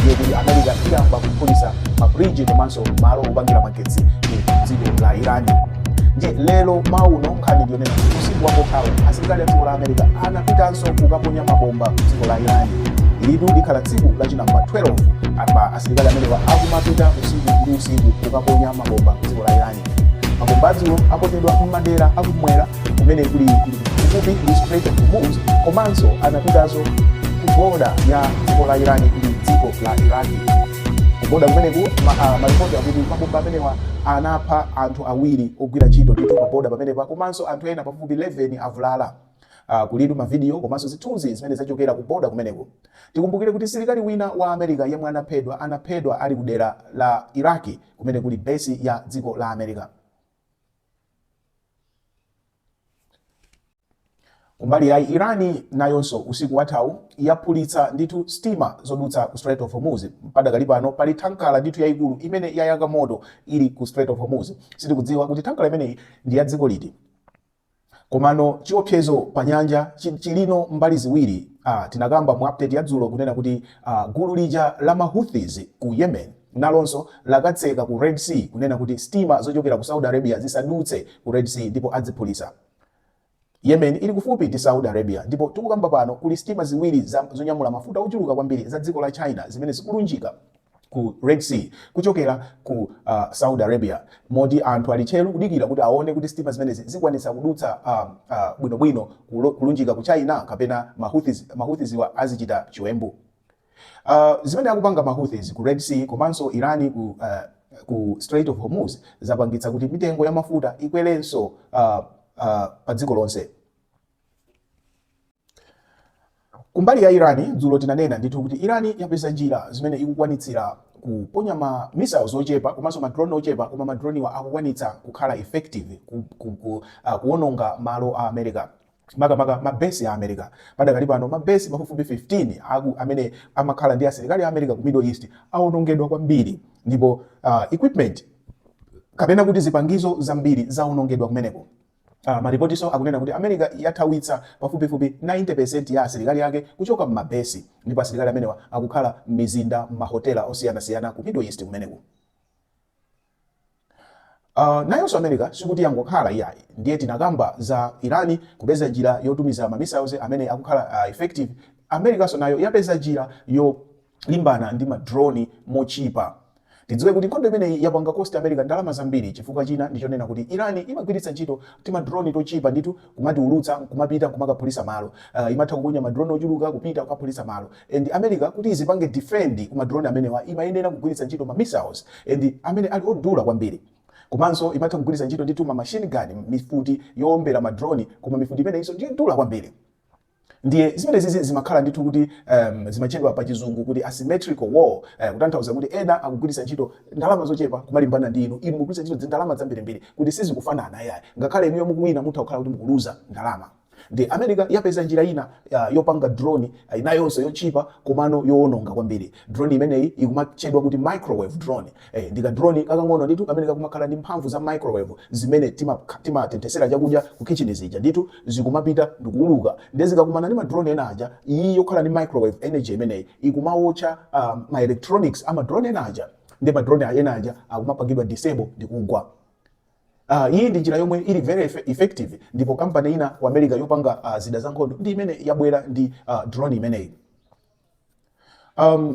ndiye kuti america iyamba kuphulitsa mabridge komanso malo opangira magetsi mu dziko la irani ndiye lero mawuno nkhani ndiyonena kuti usiku wathawu asilikali a dziko la america anapitanso kukaponya mabomba ku dziko la irani ilitu likhala tsiku lachinamba 12 apa asilikali amenewa akumapita usiku ndi usiku kukaponya mabomba ku dziko la irani mabomba atsikuwo aponyedwa m'madera akumwera kumene kuli kuli kufupi ndi Strait of Hormuz komanso anapitanso ku boda ya dziko la Iran ndi dziko la Iraq kuboda kumeneko ma- ah, malipoti akuti mabomba amenewa anapha anthu awiri ogwira ntchito ndithu paboda pamenepa komanso anthu ena pafupifupi 11 avulala Uh, kulitu mavidiyo komanso zithunzi zimene zachokera ku boda kumeneko tikumbukire kuti msilikali wina wa america yemwe anaphedwa anaphedwa ali ku dera la iraki kumene kuli besi ya dziko la america Kumbali ya Irani nayonso usiku wathawu yaphulitsa ndithu sitima zodutsa ku Strait of Hormuz. Padakali pano pali thankara ndithu yayikulu imene yayaka moto ili ku Strait of Hormuz. Sitikudziwa kuti thankara imeneyi ndi ya dziko liti. Komano chiopsezo pa nyanja chi- chili tsopano mbali ziwiri. Ah, tinakamba mu update ya dzulo kunena kuti ah, gulu lija la ma Houthis ku Yemen nalonso lakatseka ku Red Sea kunena kuti sitima zochokera ku Saudi Arabia zisadutse ku Red Sea ndipo aziphulitsa. Yemen ili kufupi ndi Saudi Arabia ndipo tikukamba pano kuli sitima ziwiri za zonyamula mafuta ochuluka kwambiri za dziko la China zimene zikulunjika ku Red Sea kuchokera ku uh, Saudi Arabia moti anthu ali tcheru kudikira kuti aone kuti sitima zimenezi zikwanitsa kudutsa uh, uh, bwinobwino kulunjika ku China kapena Mahouthis, Mahouthisiwa azichita chiwembu. Uh, zimene akupanga ma Houthis ku Red Sea komanso Iran ku uh, ku Strait of Hormuz zapangitsa kuti mitengo ya mafuta ikwerenso uh, uh, pa dziko lonse. Kumbali ya Iran dzulo tinanena ndithu kuti Iran yapeza njira zimene ikukwanitsira kuponya ma missiles ochepa komanso ma drone ochepa koma ma drone wa akukwanitsa kukhala effective ku, ku, ku, uh, kuononga malo a America makamaka ma base a America. Padakali pano ma base pafupifupi 15 aku amene amakhala ndi asilikali a America ku Middle East awonongedwa kwambiri ndipo uh, equipment kapena kuti zipangizo zambiri zawonongedwa kumeneko. Uh, ah, maripotinso akunena kuti America yathawitsa pafupifupi 90% ya asilikali ake kuchoka m'mabesi ndipo asilikali amenewa akukhala m'mizinda m'mahotela osiyanasiyana ku Middle East kumeneko. Uh, nayonso america sikuti yangokhala iyayi ndiye tinakamba za irani kupeza njira yotumizira mamissiles amene akukhala uh, effective americanso nayo yapeza njira yolimbana ndi madroni mochipa tidziwe kuti nkhondo imeneyi yapanga cost america ndalama zambiri chifukwa china ndichonena kuti irani imagwiritsa ntchito timadroni tochipa ndithu kumatiulutsa nkumapita nkumakaphulitsa malo uh, imatha kuponya ma drone ochuluka kupita kukaphulitsa malo and america kuti izipange defend ku ma drone amenewa imayenera kugwiritsa ntchito ma missiles and amene ali odula kwambiri komanso imatha kugwiritsa ntchito ndithu ma machine gun mifuti yoombera ma drone koma mifuti imeneyinso ndiyodula kwambiri Ndiye zimenezizi zimakhala ndithu kuti um, zimatchedwa pa chizungu kuti asymmetrical war uh, kutanthauza kuti ena akugwiritsa ntchito ndalama zochepa kumalimbana ndi inu, inu mukugwiritsa ntchito ndalama zambirimbiri kuti sizikufanana yayi. Ngakhale inuyo mukuwina mutha kukhala kuti mukuluza ndalama. Nde America yapeza njira ina uh, yopanga drone uh, inayonso yotchipa komano yowononga kwambiri. Drone imeneyi ikumatchedwa kuti microwave drone. Eeh, ndi ka drone kakang'ono ndithu kamene kakumakhala ndi mphamvu za microwave zimene timatenthesera chakudya ku khitchini zija ndithu, zikumapita ndikuuluka nde zikakumana ndi ma drone ena aja, iyi yokhala ndi microwave energy imeneyi ikumawotcha ma electronics a ma drone ena aja nde ma drone ena aja akumapangidwa disable ndikugwa. Aah, iyi ndi njira yomwe ili very effective ndipo company ina ku America yopanga zida zankhondo ndi imene yabwera ndi drone imeneyi. Aah.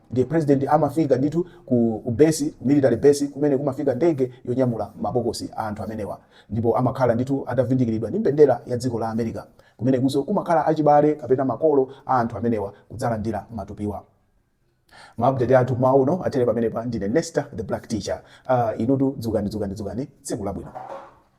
Ndiye president amafika ndithu ku ku base, ku military base kumene kumafika ndege yonyamula ma bokosi a anthu amenewa. Ndipo amakhala ndithu atavindikiridwa ndi mbendera ya dziko la America. Kumenekunso kumakhala achibale kapena makolo a anthu amenewa kudzalandira matupiwa. Ma update athu mmawa uno athere pamenepa. Ndine Nesta the Black Teacher. Aaa inutu dzukani dzukani dzukani tsiku labwino.